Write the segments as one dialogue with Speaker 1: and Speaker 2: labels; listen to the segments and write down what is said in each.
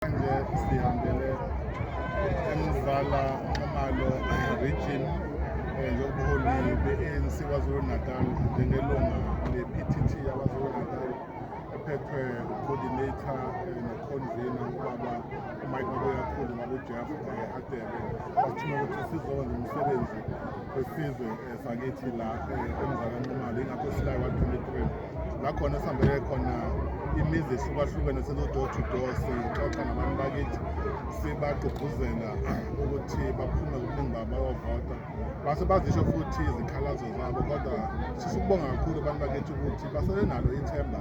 Speaker 1: Manje sihambele emvala amalo region eh, yobuholi be-ANC KwaZulu-Natal njengelunga le-PTT yaKwaZulu-Natal ephethwe coordinator eh, ne-convener ubaba umike mabuyakhulu mabujeff eh, adebe bathuma ukuthi sizoba nomsebenzi wesizwe sakithi la emzala nxumalo ingakho silayo wa-23 la khona esihambele khona imizi ehlukahlukene sizo-door to door sixoxa nabantu bakithi sibagqugquzela ukuthi baphume kuningi babo bayovota base bazisho futhi izikhalazo zabo kodwa sifisa ukubonga kakhulu abantu bakithi ukuthi basele nalo ithemba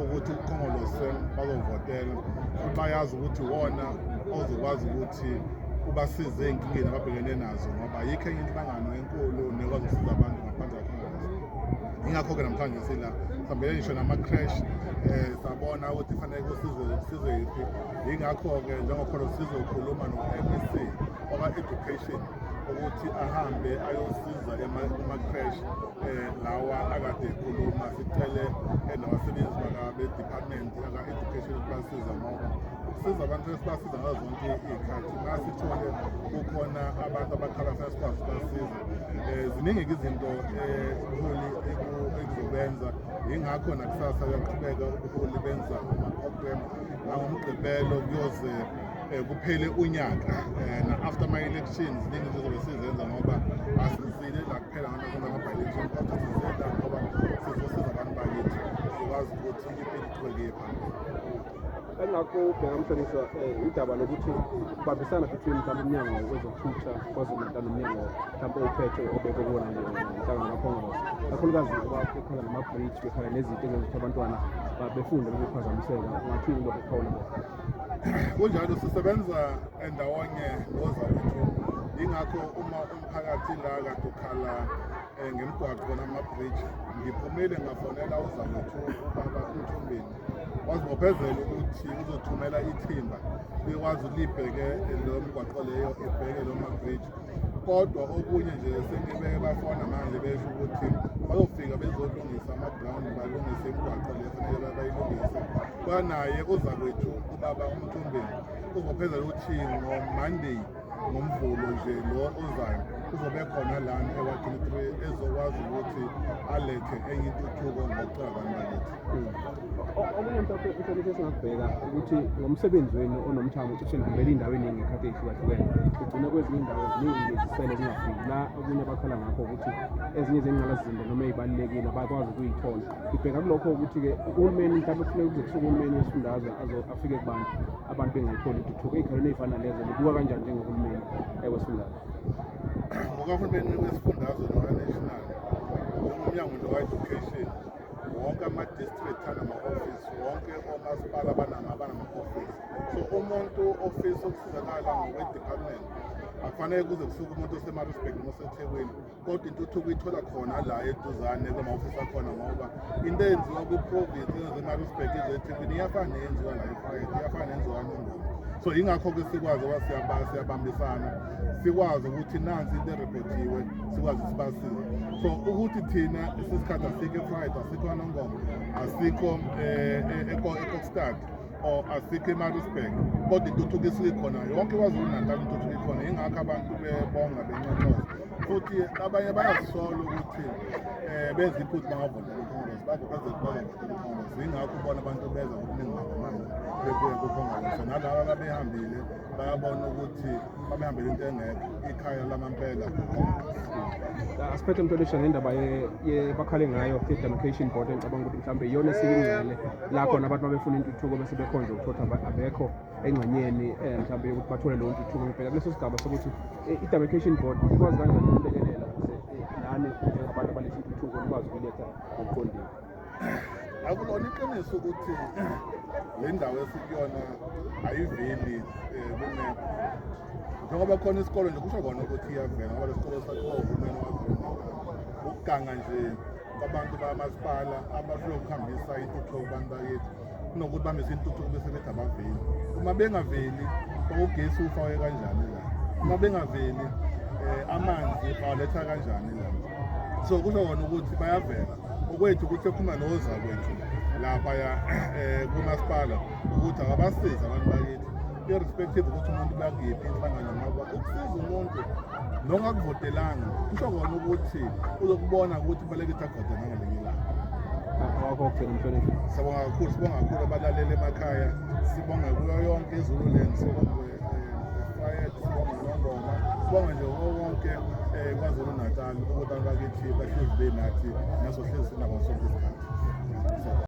Speaker 1: ukuthi ukhongolose bazovotela futhi bayazi ukuthi wona ozokwazi ukuthi ubasize ey'nkingeni ababhekene nazo ngoba yikho enye inhlangano enkulu nekwazi ukusiza abantu ngaphandle ingakho-ke namhlanje sila sihambele ngisho nama-crash um sabona ukuthi fanele kusizwe kusizwe yiphi yingakho-ke njengokhona sizokhuluma no-m e c oka-education ukuthi ahambe ayosiza kuma-crash um lawa akade ekhuluma sicele nabasebenzi bakabe-department aka-education ukuthi basiza ngoba ukusiza abantu esibasiza ngazo zonke iy'khathi masithole kukhona abantu abakhala funa sikwazi ukubasiza um ziningi-ke izinto ubuholi ekuzobenza yingakho nakusasa kuyaqhubeka ubuholi benza ama-program nangomgqibelo kuyoze um kuphele unyaka um na-after ama-elections ziningi izinto zobe sizenza ngoba asizile la kuphela ngana kunama-bilection kodwa sizela ngoba sizosiza abantu bakithi sikwazi ukuthi impilo iqhubeke phambili engakho
Speaker 2: ubheka mhlonishwa um eh, udaba lokuthi ukubambisana between mhlawumbe umnyango wezokuthutha kwazulu-natal nomnyango mhlawumbe uphethe obeke kuwona nhlangano kakhongos kakhulukazi ngoba bekhala nama-bridge bekhala nezinto engezokuthi abantwana befunde lokuphazamiseka ungathini lokho khona
Speaker 1: kunjalo sisebenza ndawonye nozawethu yingakho uma umphakathi la kade ukhala um ngemgwaqo namabridge ngiphumile ngafonela uzawethu ubaba umthombeni wazibophezela ukuthi uzothumela ithimba likwazi libheke lo mgwaqo leyo ebheke lo mabridge kodwa okunye nje sengibeke bafona manje besho ukuthi bazofika bezolungisa ama-ground balungise imigwaqo le fanele bayilungise kwanaye uzakwethu ubaba umthumbeni uzophezela ukuthi ngomonday ngomvulo nje lo ozayo kuzobe khona lana ewa-23 ezokwazi ukuthi alethe enye intuthuko ngokucabanga bakithi okunye
Speaker 2: mhlawumbe inhlonipho esingakubheka ukuthi ngomsebenzi wenu onomthamo cishe nihambela iy'ndawo eningi ekhathi ey'hlukahlukene kugcine kwezinye iy'ndawo ziningi lezisele zingafiki la okunye bakhala ngakho ukuthi ezinye zengqalasizinda noma ey'balulekile abakwazi ukuyithola ngibheka kulokho ukuthi-ke uhulumeni mhlawumbe kufuneka kuze kusuke uhulumeni wesifundazwe afike kubantu abantu bengayitholi intuthuko ey'khalweni ey'fana lezo libuka kanjani njengohulumeni eh, wesifundazwe ngokahulumeni
Speaker 1: wesifundazwe noka-national umnyango nje wa-education wonke ama-district anama-ofisi wonke omasipala banama-ofisi so umuntu ofisa ukusizakala ngokwe-department akufanele kuze kusuke umuntu osemarisburg noma osethekwini kodwa intuthuko ithola khona la eduzane kwama-ofisi akhona ngoba into eyenziwa kwi-province ezemarisburg ezethekwini iyafana neyenziwa la eprivate iyafana nenziwa nongoma so yingakho-ke sikwazi uba siyabambisana sikwazi ukuthi nansi into erekhodiwe sikwazi sibasize so ukuthi thina sisikhathi asikho efriday asikho anongoma asikho eh, eh, ekokstad or asikho emarisburg kodwa intuthuko isuke ikhona yonke kwazulu natal intuthuko ikhona yingakho abantu bebonga benconcoza futhi abanye bayazisola ukuthi um benza iphutha bangavotela ucongress bavotele ucongress yingakho ubona abantu beza ngokuningi ngakamanje bebuye kucongress nalaba babehambile bayabona ukuthi babehambele into engekho ikhaya lamampela asiphethe
Speaker 2: mntolesha ngendaba bakhale ngayo i-demarcation board engicabanga ukuthi mhlawumbe iyona esiyingcele la khona abantu babefuna intuthuko bese bekhonje ukuthotha abekho engxenyeni um eh, mhlawumbe yokuthi bathole leyo ntuthuko ngibheka kuleso sigaba sokuthi eh, i-demarcation board ikwazi kanjani ukulekelela ukuze eh, nani njengabantu abaletha intuthuko nikwazi ukuletha ngokuqondile
Speaker 1: akulona iqiniso ukuthi le ndawo esikuyona ayiveli eh, kumephu njengoba khona isikole nje kusho kona ukuthi iyavela ngoba le sikole sakhiwa uhulumeni wazona ukuganga nje kwabantu bamasipala abafike ukuhambisa intuthuko kubantu bakithi kunokuthi bamise intuthuko bese bethi abaveli uma bengaveli ugesi ufake kanjani la uma bengaveli eh, amanzi bawaletha kanjani la so kusho kona ukuthi bayavela okwethu ukuthi ekhuluma nozakwethu laphaya um kumasipala ukuthi akabasiza abantu bakithi irrespective ukuthi umuntu bakuyiphi inhlangano ngoba ukusiza umuntu nongakuvotelanga kusho kona ukuthi uzokubona ukuthi kubaleke ukuthi avote nangelinye ilanga wakho
Speaker 2: ogcina umhloniphi sibonga kakhulu sibonga
Speaker 1: kakhulu abalaleli emakhaya sibonga kuyo yonke izululand sibonga ifayet sibonga nongoma sibonga nje wonke um eh, kwazulu natal ukuthi abantu bakithi bahlezi benathi naso hlezi sinabo sonke isikhathi